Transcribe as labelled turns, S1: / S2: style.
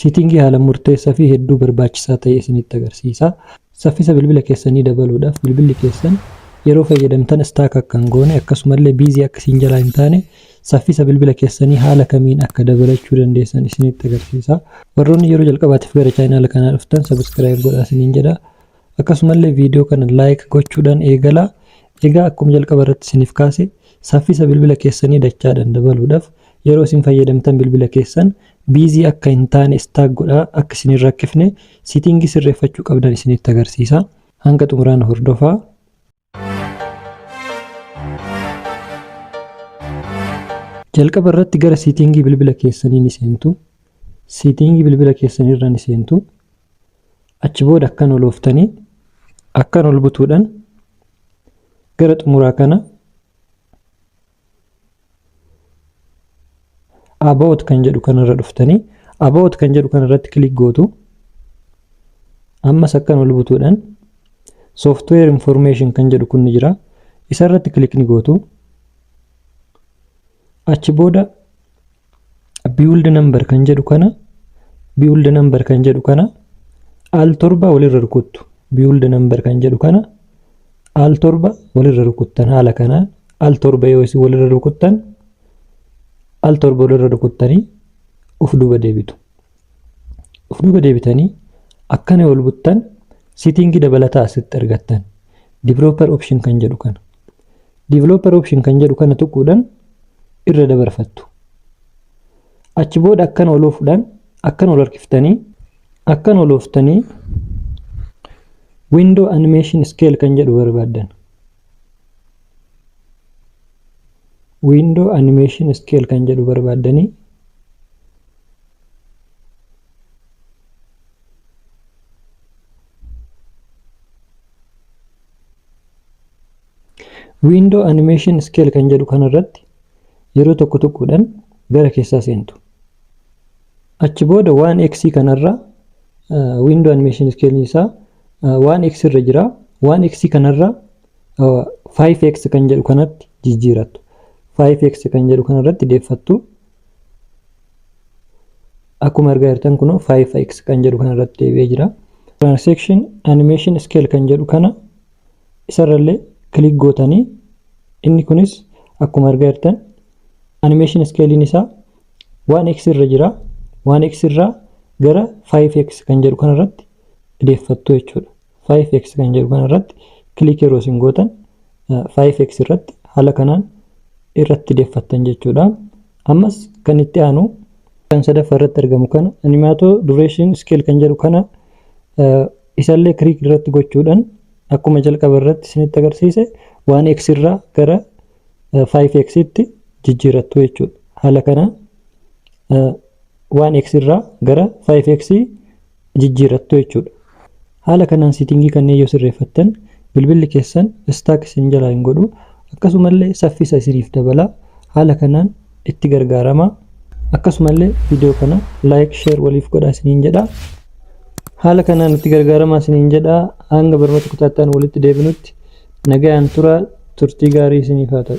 S1: Siitiingii haala murteessa fi hedduu barbaachisaa ta'e isinitti agarsiisa. Saffisa bilbila keessanii dabaluudhaaf bilbilli keessan yeroo fayyadamtan stack akka hin goone akkasumallee busy akka isin jalaa hin taane saffisa bilbila keessanii haala kamiin akka dabalachuu dandeessan isinitti agarsiisa. Warroonni yeroo jalqabaatiif gara chaayinaala kanaa dhuftan subscribe godhaa isiniin jedha. Akkasumallee video kana like gochuudhaan eegalaa. Egaa akkuma jalqaba irratti isiniif kaase saffisa bilbila keessanii dachaadhaan dabaluudhaaf yeroo isin fayyadamtan bilbila keessan busy akka hin taane stack godhaa akka isin hin rakkifne setting sirreeffachuu qabdan isinitti agarsiisa. Hanga xumuraana hordofaa. Jalqaba irratti gara siitingii bilbila keessanii ni seentu. Siitingii bilbila keessanii irra ni seentu. Achi booda akkan ol ooftanii akkan ol butuudhaan gara xumuraa kana about kan jedhu kanarra dhuftanii about kan jedhu kanarratti kilik gootu ammas akkan ol butuudhaan software information kan jedhu kun ni jira isarratti kilik ni gootu achi booda build number kan jedhu kana build number kan jedhu kana al torba walirra rukuttu build number kan jedhu kana al torba walirra rukuttan haala kanaan al torba yoo isin walirra rukuttan al torba walirra rukuttanii of duuba deebitu of duuba deebitanii akkana wal buttan sitiingi dabalataa asitti argattan developer option kan jedhu kana developer option kan jedhu kana tuquudhaan irra dabarfattu. Achi booda akkan ol oofuudhaan akkan ol harkiftanii akkan ol ooftanii window animation scale kan jedhu barbaaddan. Window animation scale kan jedhu barbaaddanii Window Animation Scale kan jedhu kanarratti yeroo tokko tokkodhaan gara keessaa seentu. Achi booda 1x kanarraa window animation scale isaa 1x irra jira. 1x kanarraa 5x kan jedhu kanatti jijjiirattu. 5x kan jedhu kanarratti deeffattu Akkuma argaa jirtan kunoo 5x kan jedhu kana irratti deebi'ee jira. Transaction animation scale kan jedhu kana isarrallee kilik gootanii inni kunis akkuma argaa jirtan animation scalein isaa 1x irra jira. 1x irraa gara 5x kan jedhu kana irratti deeffattu jechuudha. 5x kan jedhu kana irratti kilik yeroo isin gootan 5x irratti haala kanaan irratti deeffattan jechuudha. Ammas kan itti aanu kan sadaffaa irratti argamu kana animaatoo duration scale kan jedhu kana isallee kilik irratti gochuudhaan akkuma jalqaba irratti isinitti agarsiise 1x irraa gara 5x tti jijjiirattu jechuudha. Haala kanaan 1x irraa gara 5x jijjiirrattu jechuudha. Haala kanaan siitingii kanneen yoo sirreeffattan bilbilli keessan istaak isin jalaa hin godhu akkasumallee saffisa isiniif dabala haala kanaan itti gargaarama akkasumallee viidiyoo kana laayik sheer waliif godhaa isiniin jedha haala kanaan itti gargaarama isiniin jedha hanga barnoota kutaattaan walitti deebinutti nagayaan tura turtii gaarii isiniif haa ta'u.